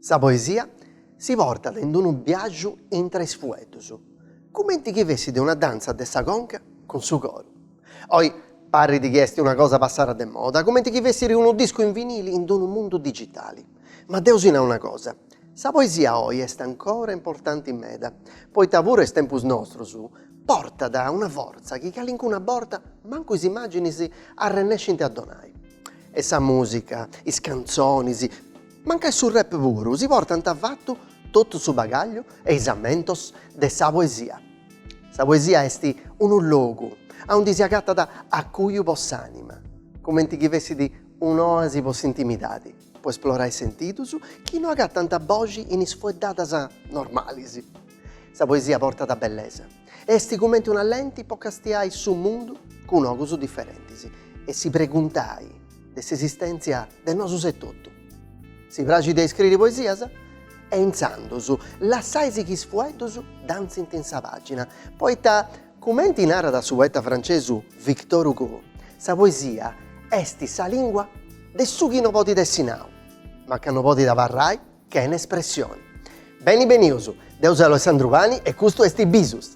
Sa poesia si portat in unu biaju intra is fueddus, cumenti chi fessit una dantza de sa conca cun su coru. Oi parrit chi est una cosa passada de moda, cumenti chi fessiri unu discu in vinili in unu mundu digitali. Ma deu si nau una cosa, sa poesia oi est ancora importanti meda, poita puru a is tempus nostrus portat una fortza chi calincuna borta mancu is immàginis arrennescint a donai. E sa mùsica, is cantzonis, mancai su rap puru, si portant fatu totu su bagagliu e is ammentos de sa poesia. Sa poesia est unu logu aundi si agatat acuiu po s'ànima, cumenti chi fessit un'oasi po s'intimidadi. po esplorai sentidus chi no agatant boxi in is fueddadas normalis. Sa poesia portat bellesa e est cumenti una lenti po castiai su mundu cun ogus diferentis e si preguntai de s'esistentzia de nosus etotu. Si praxit a iscriri poesias? E intzandus lassai si chi is fueddus dantzint in sa pàgina, poita Cumenti narat su poeta francesu Victor Hugo, sa poesia est sa lìngua de su chi no podit essi nau, ma chi no podit abarrai chene espressioni. Beni benius, deu seu Alessandru Pani e custu est Bisus!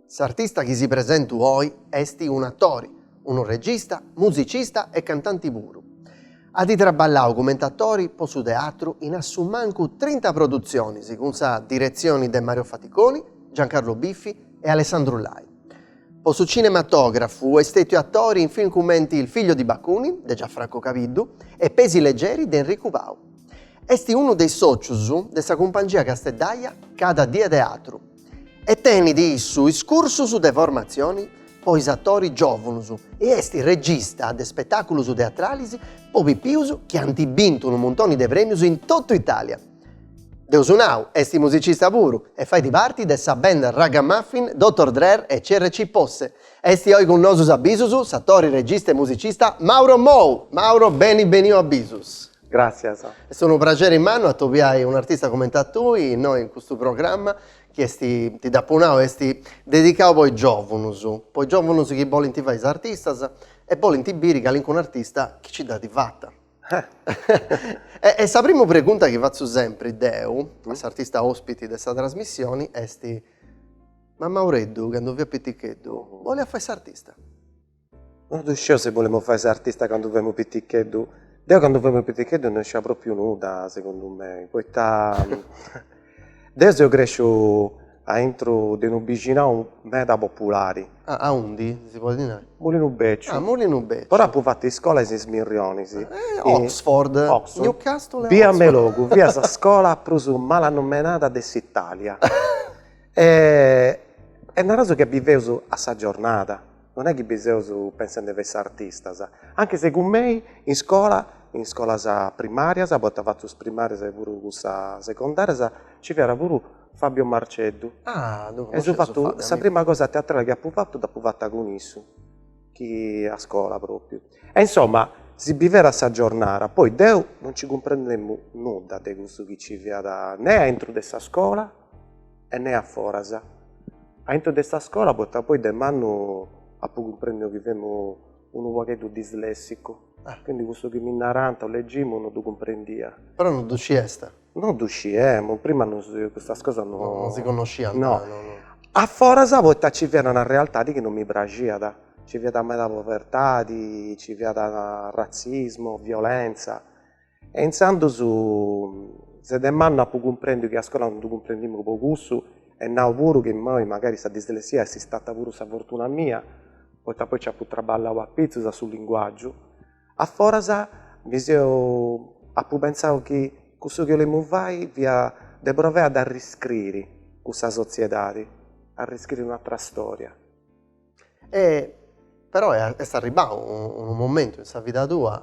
S'artista chi si presentu oi esti un atori, unu regista, musicista e cantanti puru. Adi traballau cumenti atori po su teatru in assumancu trinta produtzionis cun sa diretzioni de Mario Faticoni, Giancarlo Biffi e Alessandro Lai. Po su cinematografu est stetiu atori in film cumenti Il figlio di Bakunin de Gianfranco Cabiddu e Pesi leggeri de Enricu Pau. Esti unu de is socius de sa cumpangia casteddaia Cada Die Teatru. E tenit issu is cursus de formatzioni po is atori giòvunus e est regista de spetàculus teatralis po pipius chi ant bintu unu muntoni de prèmius in totu Itàlia. Deu apu nau est musicista puru e fait parti de sa band raggamuffin Dottor Drer e CRC Posse. Est oi cun nosus a Bisus s'atori, regista e musicista Mauro Mou! Mauro beni beniu a Bisus! Gràtzias. Est unu prageri mannu atobiai un'artista comente a tui innoi in custu programma chi est, ti dd'apu nau, est dedicau po is giòvunus, po is giòvunus chi bolint fai is artistas e bolint biri calincunu artista chi nci dd'at fata. E sa primu pregunta chi fatzu sempri deu a s'artista ospiti de sa trasmissioni est, ma Maureddu candu fiat piticheddu boliat fai s'artista? No ddu sciu si bolemu fai s'artista candu femu piticheddu. Deu candu femu piticheddu no scia propriu nudda segundu mei, poita deu seu cresciu aintru de unu bixinau meda populari. Ah, aundi, si podit nai? Mulinu Becciu. Ah, Mulinu Becciu. Però apu fatu iscola a Is Mirrionis. Oxford. Oxford. Newcastle e Oxford. Bia Meilogu, fiat sa scola prus malannomenada de s'Italia. E naraus chi biveus a sa giornada. Non est chi biseus pensende de fai is artistas, anche se cun mei in iscola, in iscolas primàrias, poita fatu is primàrias e puru cussas segondàrias, ci fiat puru Fabio Marceddu. Ah! Ddu connosciu a Fabio. E infatis sa prima cosa teatrale chi apu fatu dd'apu fata cun issu, chi a scola pròpriu. E insoma, si biviat a sa giornara, poi deu non ci cumprendemu nudda de cussu chi ci fiat, ne a intro de sa scola, e ne a foras. Aintru de sa scola poita apoi de mannu apu cumprendiu chi femu unu pagheddu dislessicu, quindi cussu chi mi narànt o legimu no ddu cumprendia. Però no ddu sciast? No ddu sciemu, prima no custas cosas no. No si connosciant. No. A foras poita nci fiat una realtadi chi no mi praxiat, nci fiat meda povertadi, nci fiat ratzismu, violentza E intzandus sceti de mannu apu cumprendiu chi a scola non ddu cumprendemu po cussu e nau puru chi immoi magari sa dislessia est istata puru sa fortuna mia, poita poi nci apu traballau apizus a su linguàgiu. A foras mi seu apu pentzau chi cussu chi 'olemu fai fia de provai a dd'arriscriri cussa sotziedadi, arriscriri un'atra storia. E però est arribbadu unu momentu in sa vida tua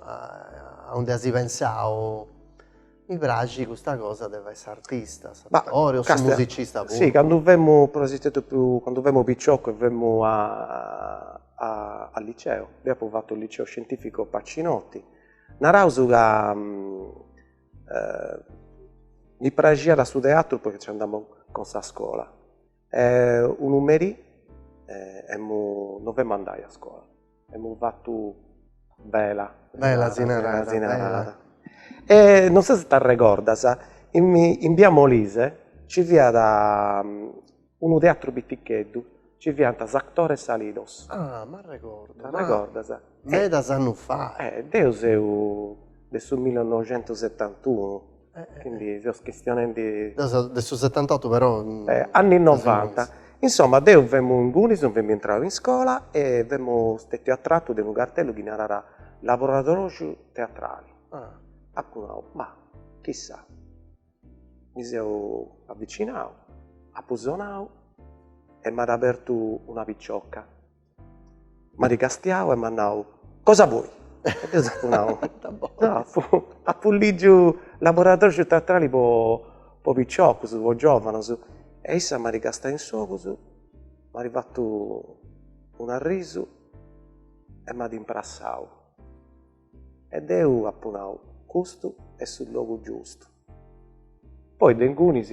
aunde as pensadu, mi praxit custa cosa de fai s'artista, s'attore o su musicista puru. Sì, candu femu prus piticu, candu femu piciocu e femu al liceo, deo apo fatu il liceo scientifico Pacinotti, naraus ca mi praxiat su teatru poita nci andamu cun sa scola E unu merì non femu andai a scola, femu fatu vela si narat. E non sciu si t'arregordas, in bia Molise ci fiat unu teatru piticheddu, ci fiant is Actores Alidos. Ah m'arregordu. T'arregordas? Medas annus fa. Deu seu de su millinoxentusettantunu Quindi seus chistionendi. De s'otantotu. Anni novanta. Insomma deu femu ingunis, non femu intradu in iscola e femu stetiu attratu de unu cartellu chi narat laboratòriu teatrali. Apu nau, ma chissà. Mi seu avvicinau, apu sonau e m'at abertu una picioca. M'at castiau e m'at nau, cosa vuoi? E deu dd'apu nau, apu lìgiu laboratòriu teatrali po po piciocus, po giòvanus. E issa m'at castiau in s'ogus, m'at fatu un'arrisu e m'at imprassau. E deu apu nau, custu est su logu giustu. Poi de ingunis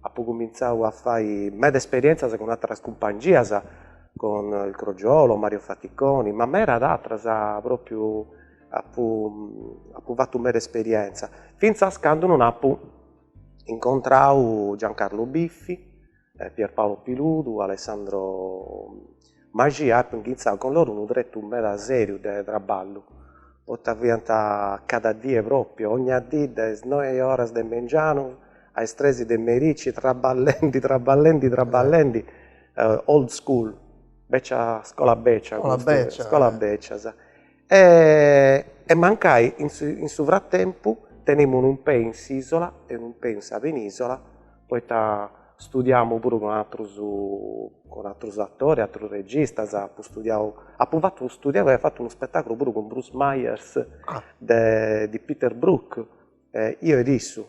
apo cumintzadu a fai meda esperientzias cun atteras cumpangias, cun il Crogiolo, Mario Faticoni, ma medas atteras propriu apo apo fattu meda esperientza, finzas candu non apo incontradu Giancarlo Biffi Pierpaolo Piludu, Alessandro Mascia apo inghintzadu cun loro unu tretu meda seriu de traballu poita fiant cada die proprio ogna dì de is noe oras de mengianu a is tres de merici traballendi traballendi traballendi old school scola becia scola becia scola becia sa e mancai in su fratempu tenemu unu pei in s'ìsola e unu pei in sa penìsola poita studiamu puru cun atrus cun atrus atoris, atrus registas, apu studiau, apu fatu studiau e fatu unu spetaculu puru cun Bruce Myers de Peter Brook, io ed issu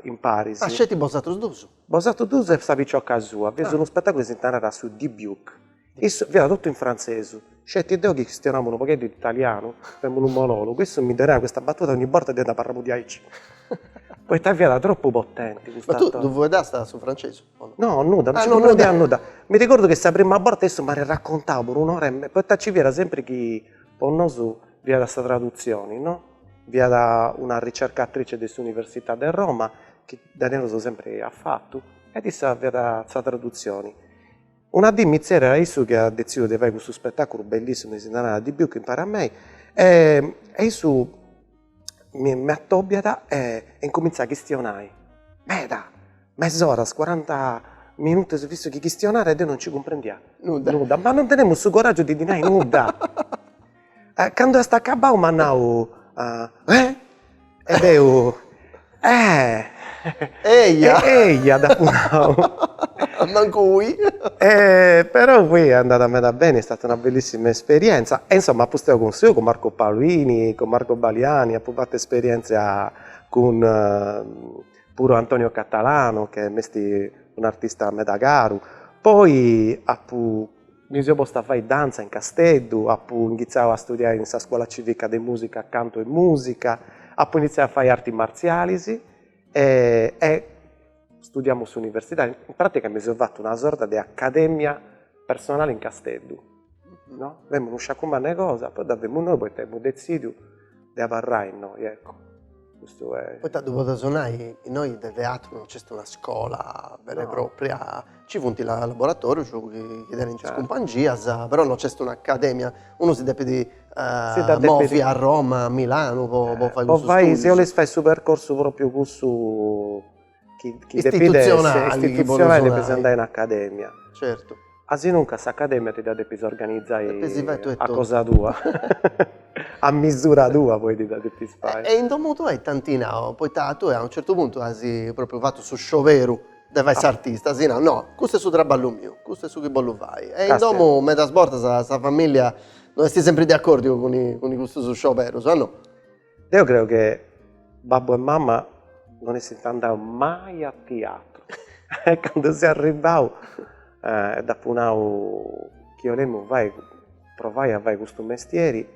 imparis. Ah, sceti bosatrus dus? Bosatrus dus e sa picioca sua. Fiat unu spetaculu chi si narat su Dybbuk. Issu, fiat totu in frantzesu, sceti deu chi chistionamu unu pogheddu de italianu, faemu unu monologu, issu mi donaiat custa batuta ogni borta deu nd'abarramu diaici, poita fiat tropu potenti custa. Ma tui ddu fueddast a su frantzesu o no? No, nudda, non nci cumprendia nudda. Mi regordu chi sa prima borta issu m'at raccontau po un'ora e poita nci fiat sempri chi po nosu Fiat sa tradutzioni, no? Fiat una ricercatrice de s'Università de Roma, chi dai namus sempri aiat fatu, ed issa fiat sa tradutzioni. Una dì mi tzerriat issu chi at detzidiu de fai custu spettaculu bellissimu chi si narat Dybbuk impari a mei e issu mi m'attobiat e incomintzat a chistionai meda, mes'ora, cuaranta minutus fissu chi chistionat e deu non nci cumprendia nudda, ma non tenemu su coraggiu de ddi nai nudda Candu est acabadu m'at nau eh e deu eh eja eja dd'apu nau mancu ui e però poi est andada meda beni, est stata una bellissima esperienza e insomma apu istadu cun su, cun Marco Paolini, cun Marco Baliani, apu fatu esperienzia cun puru Antonio Catalano che m'est un'artista meda caru, poi apu Mi seu postu a fai dantza in Casteddu, apu initziau a studiai in sa scuola civica de musica cantu e musica, apu initziau a fai arti martzialis e studiamu s'universidadi, in pratica mi seu fatu una sorta de accademia personali in Casteddu, no, femu unu sciacu mannu 'e cosa, poi dda femu innoi poita emu detzidiu de abarrai innoi, ecco, custu est. Poita ddu podeus nai, innoi de teatru non nc'est una scola vera e propria, nci funt is laboratorius chi tenint is cumpangias, però non nc'est un'academia, unu si depit movi a Roma, a Milanu po fai cussu studiu. Po fai, si 'olis fai su percorsu propriu cussu chi istitutzionali chi podeus nai. Depis andai in academia. Certu. Asinuncas s'academia ti dda depis organizai. Depis fai tui totu. A cosa tua. A misura tua poi ti dda depis fai. E in domu tua ita ant nau, poita tui a unu certu puntu asi propriu fatu su scioberu de fai s'artista, asi nau, no, custu est su traballu miu, custu est su chi bollu fai. E in domu medas bortas sa familia no est sempri de acordiu cun custus scioberus o no. Deu creu che babbu e mama non essint andau mai a tiatru e candu seu arribbau e dd'apu nau chi 'olemu fai provai a fai custu mestieri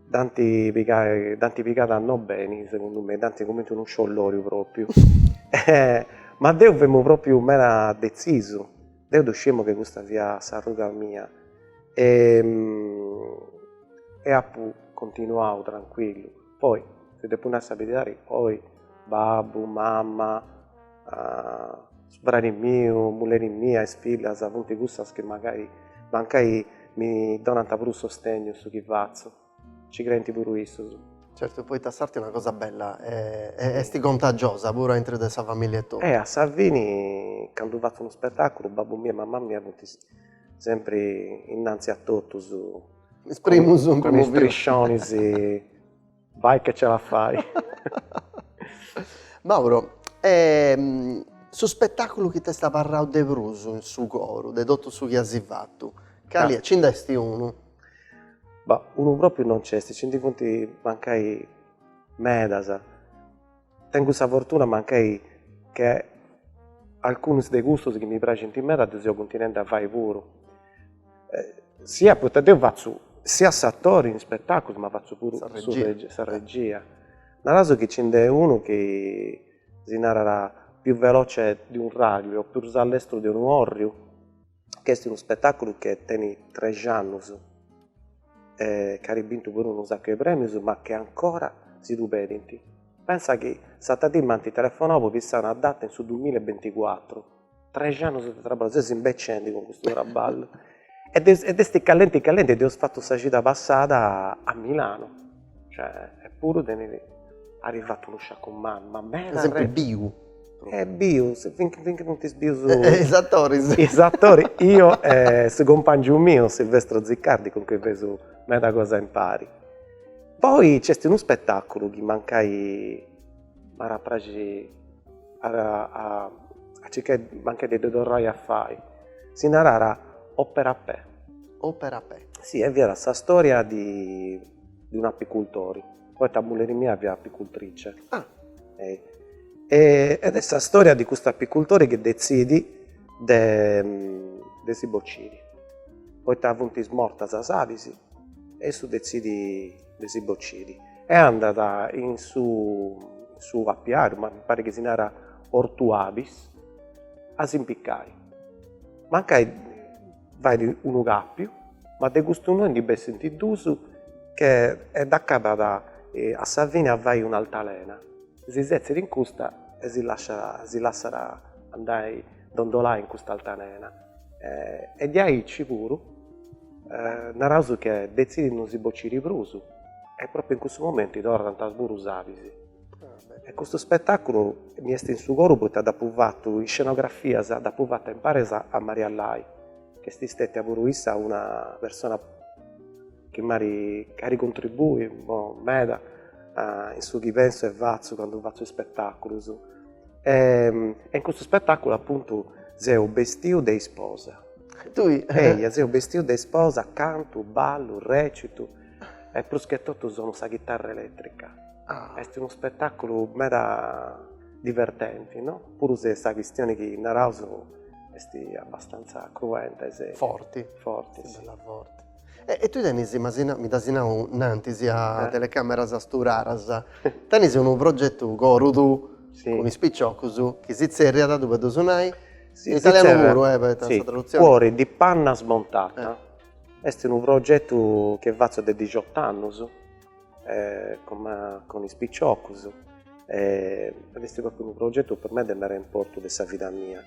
dd'ant pigai dd'ant pigada no beni segundu mei, dd'ant cumenti unu sciolloriu propriu ma deu femu propriu meda detzisu Deu ddu sciemu che custa fiat s'arruga mia e e apu continuau tranquillu. Poi si depu nai sa beridadi, poi babbu, mama, fradi miu, mulleri mia, is fillas funt cussas chi magari mancai mi donant prus sostegnu in su chi fatzu. Ci crenti puru issos. Certu poita s'arte est una cosa bella e est contagiosa puru aintru de sa familia tua. E a sa fini candu fatzo unu spettaculu babbu miu e mamma mia funt sempri innanzi a totus is primus cun is triscionis vai che ce la fai. Mauro e su spettaculu chi t'est abarrau de prus in su coru de totu su chi as fattu cali est? Ci nd'est unu? Beh, unu pròpriu non nc'est, nci ndi funt mancai medas. Tengu sa fortuna mancai che alcunus de cussus chi mi praxint meda ddus eus cuntinendi a fai puru. Sia poita deu fatzu sia s'atori in spetàculus ma fatzu puru sa regia. Naraus chi nci nd'est unu chi si narat più veloce di un raglio o prus a lestru de unu corriu ch'est unu spetàculu chi tenit trexannus e ch'at bintu puru unu sacu 'e prèmius ma chi ancora si ddu pedint. Pensa chi s'atra dì m'ant telefonau po fissai una data in su duamilla e binticuatru, trexannus de traballu, seus imbecienti cun custu traballu e dd'est callenti callenti e dd'eus fatu sa cida passada a Milanu Cioè, eppuru tenit dd'eis fatu unu sacu ma meda. Est sempri biu. Est biu, finche finche funt bius. Is atoris. Is atoris, io e su cumpangiu miu Silvestro Ziccardi cun cui feus medas cosas impari. Poi nc'est unu spetaculu chi mancai m'iat a praxi a circai mancai de ddu torrai a fai. Si narat Opera Pè. Opera Pè. Si, e fiat sa storia di de un apicultori, poita mulleri mia fiat apicultrice. Ah! E ed est sa storia de custu apicultori chi detzidit de de si bociri, poita funt mortas is abis e issu detzidit de si bociri e andat in su in su apiariu, mi parit chi si narat ortu abis, a s'impicai. Mancai Fait unu càpiu, ma de custu nou ndi bessint duus che e dd'acabat a sa fine a fai un'altalena, si setzit in custa e si lasciat si lassat andai dondolai in custa altalena e diaici puru naraus che detzidit non si bociri prus e propriu in cussu momentu torrant puru is abis E custu spetàculu mi est in su coru poita dd'apu fatu, is scenografias dd'apu fata imparis a Maria Lai, chi est stètia puru issa una persona chi m'at contribuiu meda in su chi pensu e fatzu candu fatzu ispetàculus. E in custu spetàculu apuntu seu bestiu de isposa. Tui? Eia, seu bestiu de isposa, cantu, ballu, rècitu e prus che totu sonu sa chitarra elètrica Ah, est unu spetàculu meda divertenti, no? Puru si est sa chistioni chi naraus est abbastanza cruenta e seria. Forti. Forti, si. Bella forti. E tui tenis, m'as mi dd'asi nau innantis, a telecàmeras studadas, tenis unu progetu corudu cun is piciocus chi si tzerriat, ddu podeus nai, in italianu puru, eh, poita sa tradutzioni. Cuori di panna smontata. Est unu progetu chi fatzu de dixot'annus. eh, comenti cun is piciocus, eh, adi est propriu unu progetu po mei de mere importu de sa vida mia.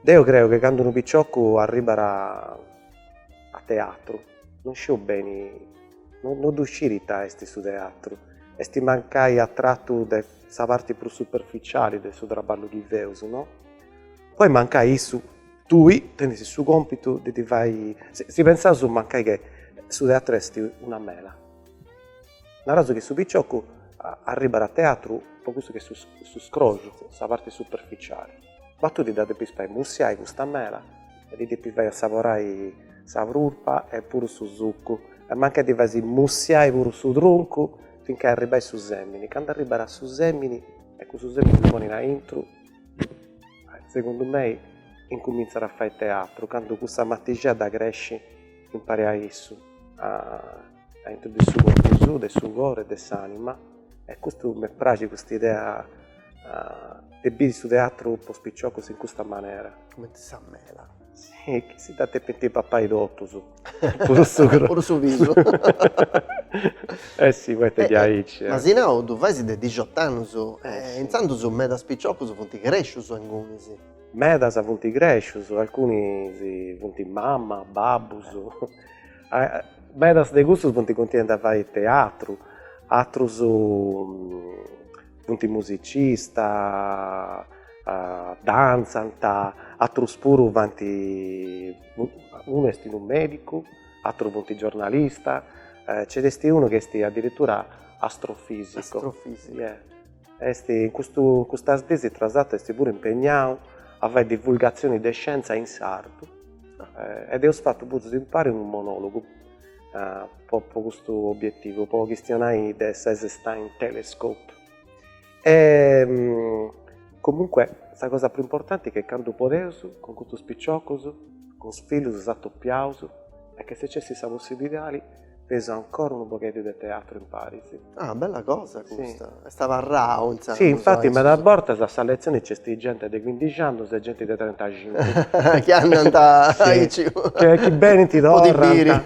Deu creu che candu unu piciocu arribat a a teatru, non scit beni, no no ddu sciri ita esti su teatru, esti mancai atratu de sa parti prus superficiali de su traballu chi feus, no? Poi mancai issu, tui, tenis su compitu de ddi fai, si pensaus mancai che su teatru esti una mela Naras chi su piciocu arribat a teatru po cussu chi est su scroxu, sa parti superficiali. Ma tui si dda depis fai mursiai custa mela e ddi depis fai assaborai sa prulpa e puru su sucu e mancai ddi fais mursiai puru su truncu finca arribai su semini. Candu arribat a su semini e cussu semini ddu ponit aintru, segundu mei incumintzat a fai teatru candu cussa matixedda cresci Impari a issu, a aintru de su corpu suu, de su coru, de s'anima, e custu mi praxit cust'idea de biri su teatru po is piciocus in custa manera. Cumenti sa mela. Si, chi si dda depint papai totus, puru su scroxu. Puru su pisu. Eh si, poita diaici. M'asi nau ddu fais de dixot'annus, intzandus medas piciocus funt crescius alcunus. Medas funt crèscius, alcunus funt mama, babbus, medas de custus funt continuendi a fai teatru, atrus funt musicista, dantzant, atrus puru faint, unu est unu medicu, atrus funt giornalista, nci nd'est unu chi est addirittura astrofisicu, astrofisicu Est in custu in custas dies tra s'ateru est puru impegnadu a fai divulgatzioni de scienza in sardu ed eus fatu puru impari unu monologu po po custu obiettivu po chistionai de s'Einstein Telescope e comunque sa cosa prus importanti che candu podeus cun custus piciocus cun is fillus s'atopiaus e chi si nc'est sa possibilidadi feus ancora unu pogheddu de teatru imparis. Ah, bella cosa custa. Sì. Est abarrau, intzandus. Sì, infati medas bortas a sa letzioni nc'est genti de chindixi annus e genti de trentaxincu. Chi andant aici. Chi benint, torrant. Po ti biri.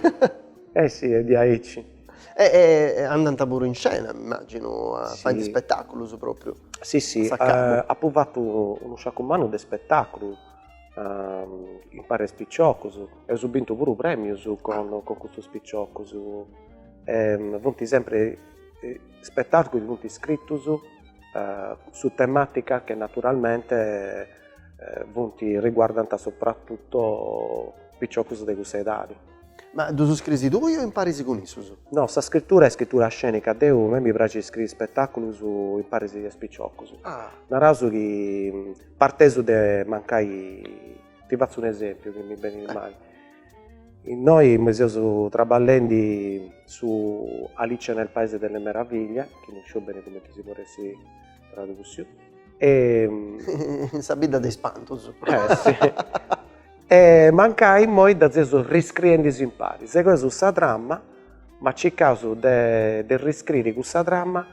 Eh sì, est diaici. E andant puru in scena, immaginu, a fai is spetaculus propriu. Sì, sì, apu fatu unu sciacu mannu de spetaculus. impari a is piciocus, eus bintu puru premius cun cun custus piciocus e funt sempri spettaculus chi funt iscritus su tematica che naturalmente funt riguardant soprattutto piciocus de cussa edadi. Ma ddus scrisi tui o imparis cun issus? No, sa scrittura est scrittura scenica, deu a mei mi praxit iscriri spettaculus imparis a is piciocus, naraus chi Parteus de mancai, ti fatzu un esempiu chi mi benit immoi. Nosu immoi seus traballendi su Alice nel paese delle meraviglie, chi non sciu beni cumenti si podit essi tradussiu, In sa bidda de is spantus. E mancai immoi dda seus riscriendi impari. Sigheus sa trama, ma circaus de riscriri cussa trama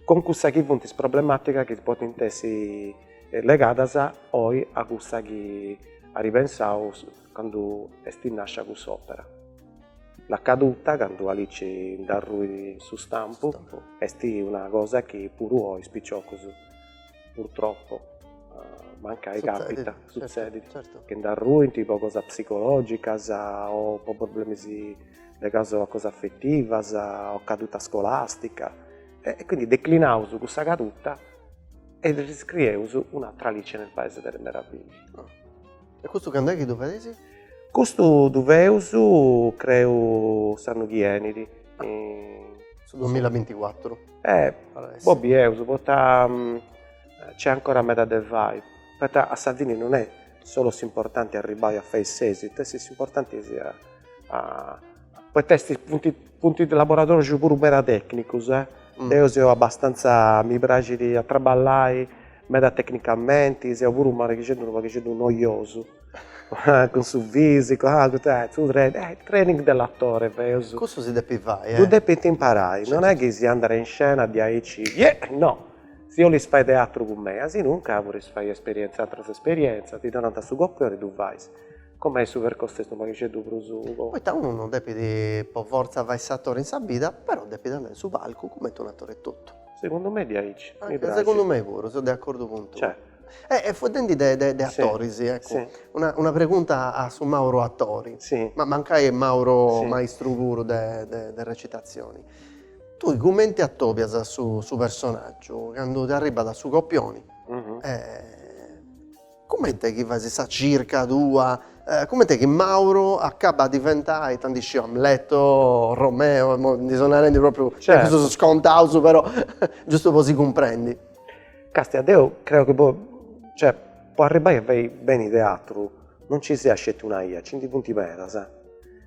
cun cussas chi funt is problemàticas chi podint essi legadas oi a cussa chi at pensau candu est nàscia cuss'òpera. La caduta, candu Alici nd'arruit in su stampu, est una cosa chi puru oi is piciocus, purtroppu, mancai càpita, sutzedit, chi nd'arruint po cosas psicològicas o po problemas ligaus a cosas afetivas, o caduta scolastica, e quindi declinaus cussa caduta e riscrieus un'atra Alice nel paese delle meraviglie. Oh. E custu cand'è chi ddu fais? Custu ddu feus, creu, s'annu chi 'enit. Ah. In... Su 2024. Eh, bolleus, poita nc'est ancora meda de fai, poita a sa fini non est solu s'importanti arribbai a fai s'esitu est s'importanti si a a poita est funt funt laboratorius puru meda tecnicus e deu seu abastanza mi praxit a traballai meda tecnicamenti seu puru unu paghixeddu unu paghixeddu noiosu cun su fisicu ah custu ah su training eh training dell'attore feus cussu si depit fai eh ddu depint imparai non est chi si andat in scena diaici no Si 'olis fai teatru cun mei, asinuncas podis fai esperienza atras esperienzas, ti donant a su copioni ddu fais. Cun mei su percorsu est unu paghixeddu prus po. Poita unu non depit po fortza fai s'atori in sa bida, però depit andai in su palcu cumenti unu atori etotu. Segundu mei diaici, mi praxit. Segundu mei puru, seu de acordu cun tui. Cioè. E fueddendi de de atoris, eccu, una una pregunta a su Mauro atori, ma mancai est Mauro maistru puru de de recitazioni. Tui cumenti atobias su su personaggiu candu ti arribat a su copioni e cumenti est chi fais sa circa tua e cumenti est chi Mauro acabbat a diventai ita nd'isciu Amleto, Romeo, immoi ndi seu narendi propriu cussus scontaus però giustu po si cumprendi. Castia deu creu chi po cioè po arribai a fai beni teatru non ci siat sceti una ia, nci ndi funt medas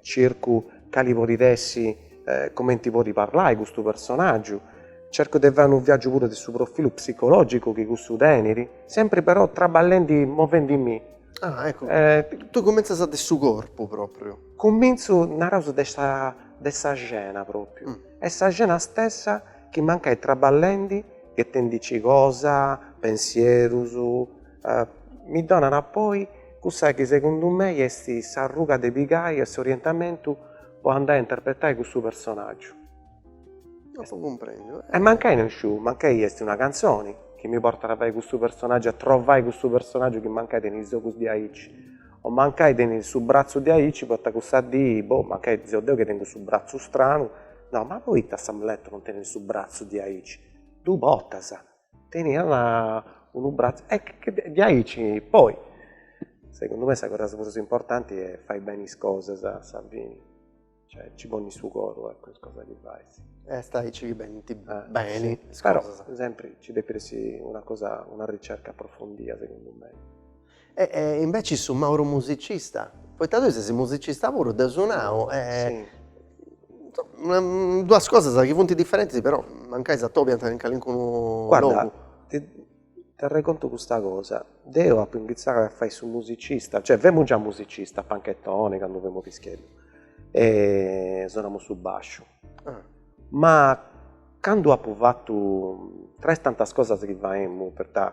Cercu cali podit essi, comenti podit parlai custu personaggiu, cercu de fai unu viaggiu puru de su profilu psicologicu chi cussu tenit, sempri però traballendi, movendimì. Ah eccu, tui cumintzas de su corpu propriu. Cumintzu, naraus de sa de sa scena propriu, est sa scena stessa chi mancai traballendi, ghetendici cosa, pensierus, mi donat poi cussa chi segundu mei est s'arruga de pigai e s'orientamentu po andai a interpretai cussu personaggiu. Apo cumprendiu. E mancai no isciu mancai est una cantzoni chi mi portat a fai cussu personaggiu, a trovai cussu personaggiu chi mancai tenit is ogus diaici, o mancai tenit su bratzu diaici poita cussa dì, boh, mancai seu deu chi tengu su bratzu stranu, nau, ma poita s'Amleto non tenit su bratzu diaici? Ddu portas, teniat unu bratzu diaici poi segundu me sa cosa prus importanti est fai beni is cosas, a sa fini, cioè ci ponni su coro a is cosas chi fais. Est aici chi benint beni is cosas. Però sempri ci depit essi una cosa, una ricerca approfondia segundu mei E e inveci su Mauro musicista, poita tui ses musicista puru, deu sonau e insomma duas cosas chi funt diferentis però mancai s'atobiant in calincunu logu. Guarda, t'arrecontu custa cosa, deu apu incumintzau a fai su musicista, cioè femu già musicista panchetoni candu femu piseddu e sonamu su basciu, ma candu apu fatu, tra is tantas cosas chi faemu poita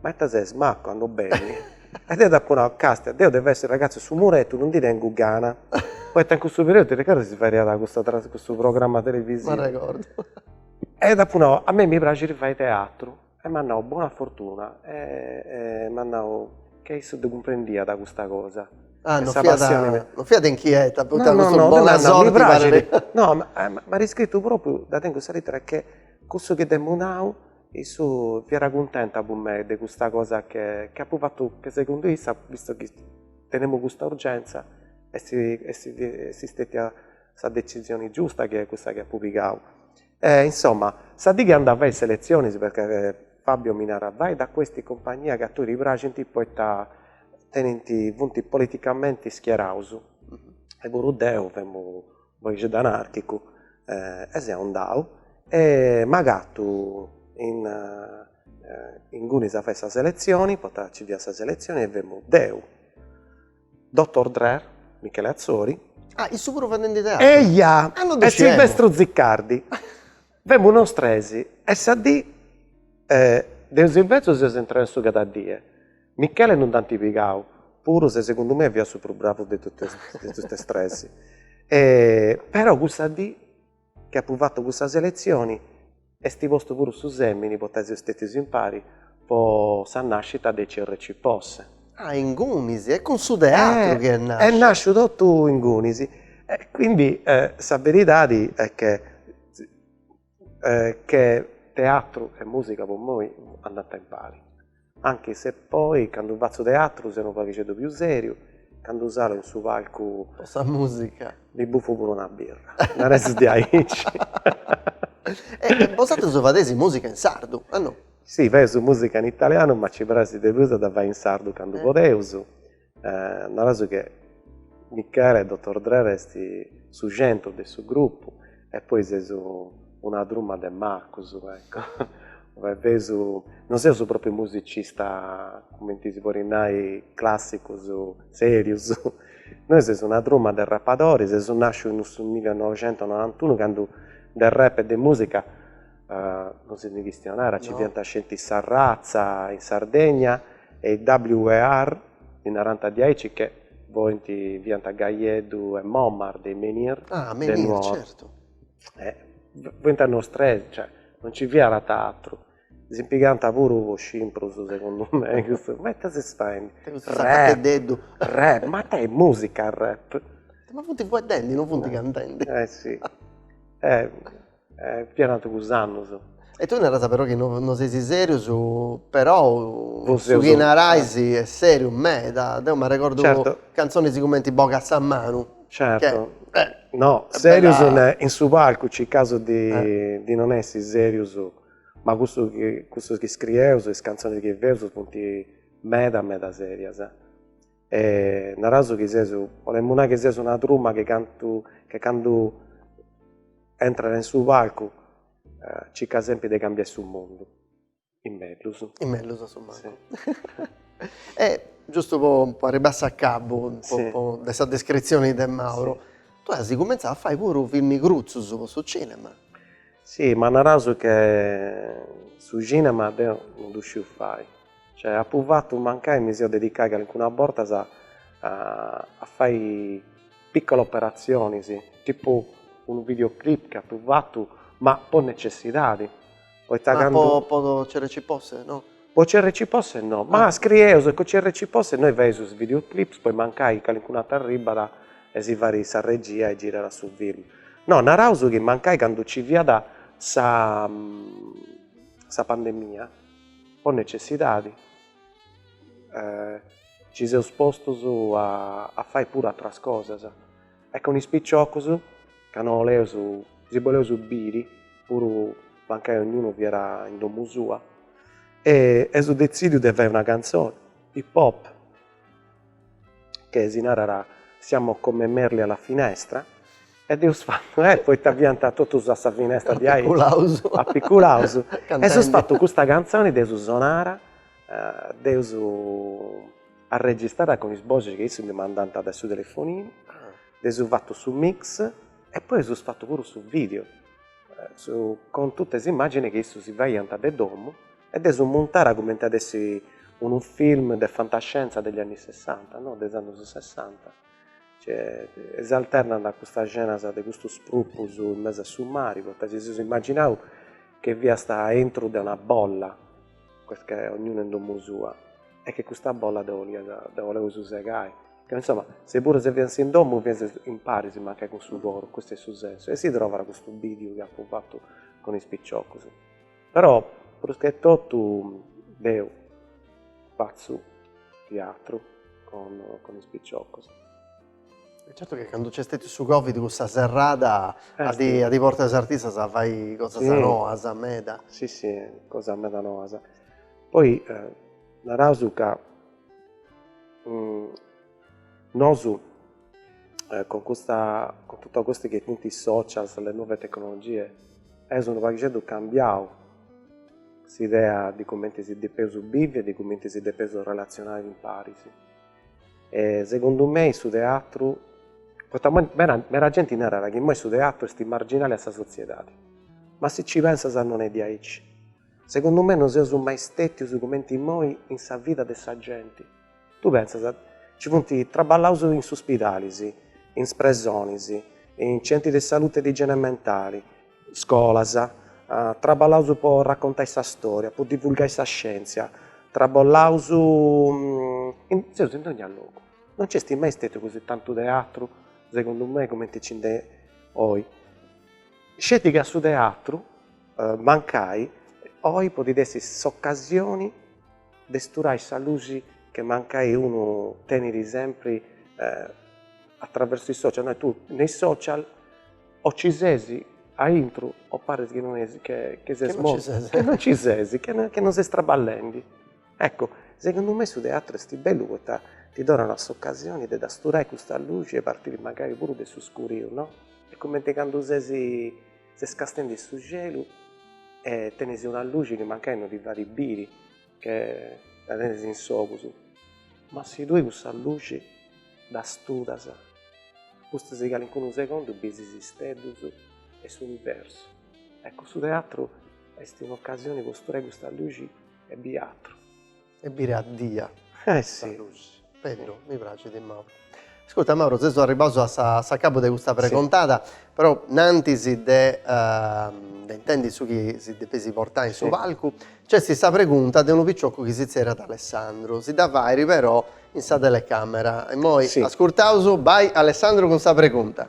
Ma ita ses mattu, ando beni? E deu dd'apu nau, Castia, deu de essi ragazzu 'e su murettu, non ndi tengu gana. Poita in cussu periodu, t'arregordas si fadiat custa tras cussu programma televisiu? M'arregordu. E dd'apu nau, a mei mi praxit fai teatru. E m'at nau, buona fortuna. E m'at nau, ca issa dda cumprendiat custa cosa. Ah, non fiat, non fiat inchieta poita custu bona sorti parit. No, m'at iscritu propriu, dda tengu sa lettera, che cussu chi dd'emu nau Issa fiat cuntenta po mei de custa cosa che apu fatu che segundu issa, visto chi tenemu custa urgenza, est istetia sa decisioni giusta chi est cussa chi apu pigau. E insoma, sa dì chi andu a fai is seletzionis, perchè Fabio mi narat, vai da questi compagnia chi a tui ti praxint poita tenint, funt politicamenti schieraus, e puru deu femu Paghixeddu anàrchicu e seu andau e m'agatu ingunis a fai sa seletzioni, poita nci fiat sa seletzioni e femu deu, Dotor Drer, Michele Atzori. Ah, issu puru fadendi teatru? Eja! E Silvestru Ziccardi. Femus nos tres e sa dì deu e Silvestru seus intraus in su Cada Die. Michele non nd'ant pigau, puru se segundu mei fiat su prus bravu de totus tres. Però cussa dì chi apu fatu cussa selezioni est postu puru su semini poita seus stetius impari po sa nascita de CRC Posse. Ah, ingunis, est cun su teatru chi est nasciu. Est nasciu totu ingunis e quindi sa beridadi est che che teatru e musica po mei andanta impari anche se poi candu fatzu teatru seu unu paghixeddu più seriu candu salu in su palcu po sa musica mi buffu puru una birra nareus diaici e bosatrus fadeis musica in sardu o no? Sì faeus musica in italianu ma ci praxit de prus a dda fai in sardu candu podeus Eh, naraus che Michele, Dotor Drer est su centru de su grupu e poi seus una truma de macus, ecco. Ue feus, non seus propriu musicista, cumenti si podit nai, classicus, serius. Nois seus una truma de rapadoris, seus nascius in su millenovecentonovantunu candu de rap e de musica non si ndi chistionat, nci fiant sceti Sa Ratza in Sardegna e is WAR ddi narant diaici che fuint, fiant Gajeddu e Momak de is Menhir de Nuoro, fuint nos tres, cioè non nci fiat atru, si pigant puru po scimprus segundu me, cussus, ma ita ses faendi, rap, rap, ma ita est musica rap, ma funt fueddendi, non funt cantendi, eh si Fiant cussus annus. E tui naras però chi no no seis serius, però su chi narais est seriu meda, deu m'arregordu cantzonis cumenti Boga sa manu. Certo, no, serius in su palcu circaus de de non essi serius, ma cussu chi cussus chi scrieus e is cantzonis chi feus funt meda meda serias e naraus chi seus, bolemu nai chi seus una truma chi cantu che candu entrat in su palcu circat sempri de cambiai su mundu in mellus. In mellus a su mancu. E giustu po po arribbai a s'acabu po de sa descritzioni de Mauro, tue as cumentzau a fai puru film crutzus po su cinema. Si, ma naraus che su cinema deu non ddu sciu fai, Cioè apu fatu mancai mi seu dedicai calincuna bortas a a fai piccola operatzionis, tipu unu video clip chi apu fatu, ma po necessidadi, poita candu. Ma po po CRC Posse no? Po CRC Posse no, ma scrieus e cun CRC Posse innoi faeus is video clips poi mancai calincunu ateru arribat e si fait sa regia e girat su film. No, naraus chi mancai candu nci fiat sa sa pandemia po necessidadi ci seus postus a fai puru ateras cosas e cun is piciocus ca no oleus, si boleus biri puru mancai ognunu fiat in domu sua e eus detzidiu de fai una cantzoni, hip hop. che si narat siamo come merli alla finestra e dd'eus fattu eh poita fianta totus a sa finestra diai apiculaus e s'eus fattu custa canzoni dd'eus sonada dd'eus arregistrada cun is boxis chi issus mi mandanta de su telefoninu dd'eus fattu su mix e poi s'eus fattu puru su video cun tutte is immagini chi issus si faianta de domu e de ddu muntai cumenti at essi unu film de fantascienza de is anni sessanta, no, de is annus sessanta, cioè s'alternant custas scenas de custus prupus in mesu a su mari, poita si seus imaginau che fiaus aintru de una bolla, che ognunu in domu sua, e che custa bolla dda boliaus, dda boleus segai, ca insoma, se puru si fiant in domu fiant imparis mancai cun su coru, custu est su sensu, e si trovat custu bidiu chi apu fatu cun is piciocus Però prus che totu deu fatzu tiatru cun is piciocus. E certu chi candu nc'est stetiu su Covid cussa serrada at portau is artistas a fai cosas noas meda. Si si, cosas meda noas. Poi naraus ca Nosu cun custa, cun totu custu chi funt is socials, le nuove tecnologie, eus unu paghixeddu cambiau s'idea de cumenti si depeus bivi e de cumenti si depeus relatzionai imparis. Segundu mei su teatru, poita immoi meda meda genti narat chi immoi su teatru est marginali a sa sotziedadi, ma si nci pensas non est diaici Segundu me no seus mai stètius cumenti imoi in sa vida de sa genti. Tui pentza, nci funt traballaus in is uspidalis, in is presonis, in centri de salute e de igiene mentali, scolas, traballaus po raccontai sa storia, po divulgai sa scientzia, traballaus, seus in dogna logu. No nci est mai stètiu così tantu teatru, segundu me, cumenti nci nd'est oi. Sceti chi a su teatru mancai oi podit essi s'ocasioni de sturai sa luxi che mancai unu tenit sempri attraversu is social, nai tui me is social o ci sesi aintru o paris chi no esi che che ses mortu, che no ci sesi, che no che no ses traballendi, eccu segundu me su teatru esti bellu poita ti donat s'ocasioni de dda sturai custa luxi e partiri mancai puru de su scuriu no, e cumenti candu sesi ses castendi in su cielu e tenes una luxi chi mancai no ti fait biri che dda tenes in s'ogus, ma si tui cussa luxi dda studas, pustis 'e calincunu segundu bis is isteddus e s'universu. Ecu su teatru est un'ocasioni po sturai custa luxi e biri atru. E biri a diai. Eh si. Bellu, mi pracit Mauro. Ascurta Mauro, seus arribaus a sa a s'acabu de custa pregontada, però innantis de de intendi su chi si depesi portai in su palcu, nc'est sa pregunta de unu picioccu chi si zerriat Alessandru, si dda fait però in sa telecamera. Immoi ascurtaus, bai Alessandru cun sa pregunta.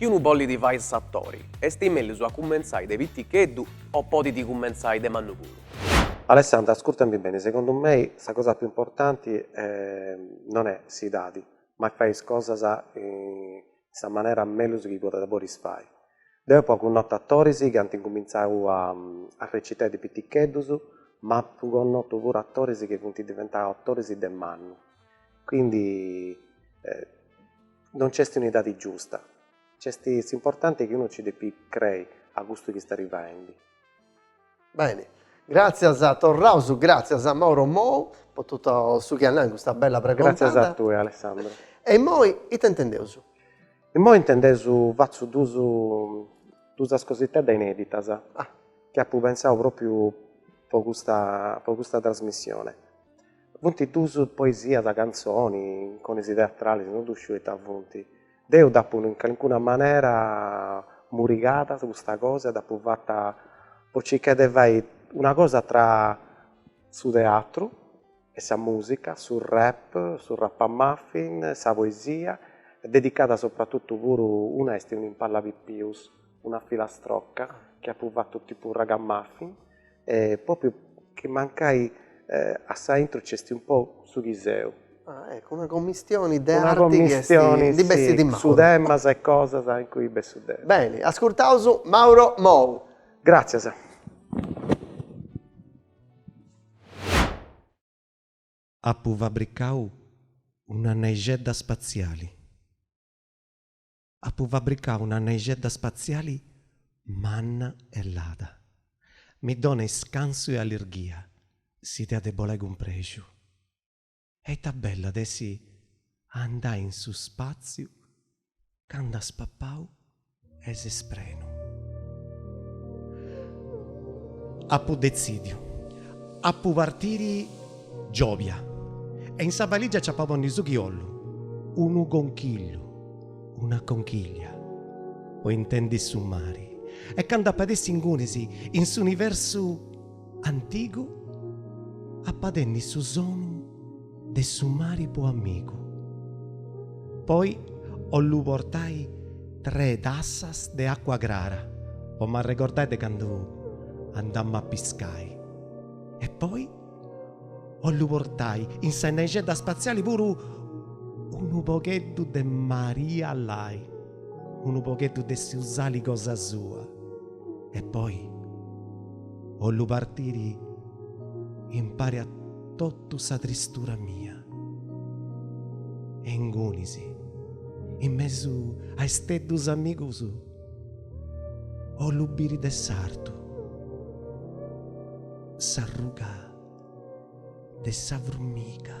Chi unu bollit fai s'atori, est mellus a cumentzai de piticheddu o podit cumentzai de mannu puru? Alessandra, ascurtami beni, segundu mei sa cosa più importanti non est s'idadi, ma est fai is cosas in sa manera mellus chi podis fai. Deu apu connotu atoris chi ant incumintzau a recitai de piticheddus, ma apu connotu puru atoris chi funt diventau atoris de mannu, quindi Non nc'est un'idadi giusta. Nc'est s'importanti chi unu nci depit crei a custu chi stait faendi. Beni, gràtzias, torraus gràtzias a Mauro Mou po totu su chi at nau in custa bella pregontada. Gràtzias a tui Alessandra. E immoi ita intendeus? Immoi intendeus fatzu duus duusas cositedda ineditas chi apu pensau propriu po custa po custa trasmissione. Funt duus poesias cantzoni, inconis teatralis, no ddu sciu ita funt. Deu dd'apu in calincuna manera murigada custa cosa e dd'apu fata po circai de fai una cosa tra su teatru e sa musica, su rap, su rap-a-muffin, sa poesia, dedicada sopratutu puru, una est un'imbala pipius, una filastrocca chi apu fatu tipu raga-muffin propriu chi mancai a s'aintru c'esti un po su chi seu. Ah eccu una commistioni de arti chi esti, ndi bessit in Mauro. Su temas e cosas in cui bessu deu. Beni, ascurtaus Mauro Mou. Gràtzias. Apu fabricau una naixedda spatziali. Apu fabricau una naixedda spatziali manna e lada. Mi dona iscansu e allirghia, s'idea de bolai cun prexu. E ita bella at essi a andai in su spatziu candu as papau e ses prenu. Apu detzidiu. Apu partiri giòbia e in sa balìgia nci apu a ponni su chi 'ollu, unu conchillu. una conchiglia po intendi su mari e candu ap'a essi ingunis in s'universu antigu ap'a tenni su sonu de su mari po amigu poi 'ollu portai tre tassas de acua crara po m'arregordai de candu andammu a piscai e poi 'ollu portai in sa naixedda spatziali puru unu pogheddu de Maria Lai, unu pogheddu de su sali cosa sua e poi 'ollu partiri impari a totu sa tristura mia. E ingunis, in mesu a isteddus amigus, 'ollu biri de s'artu. s'arruga de sa furmiga.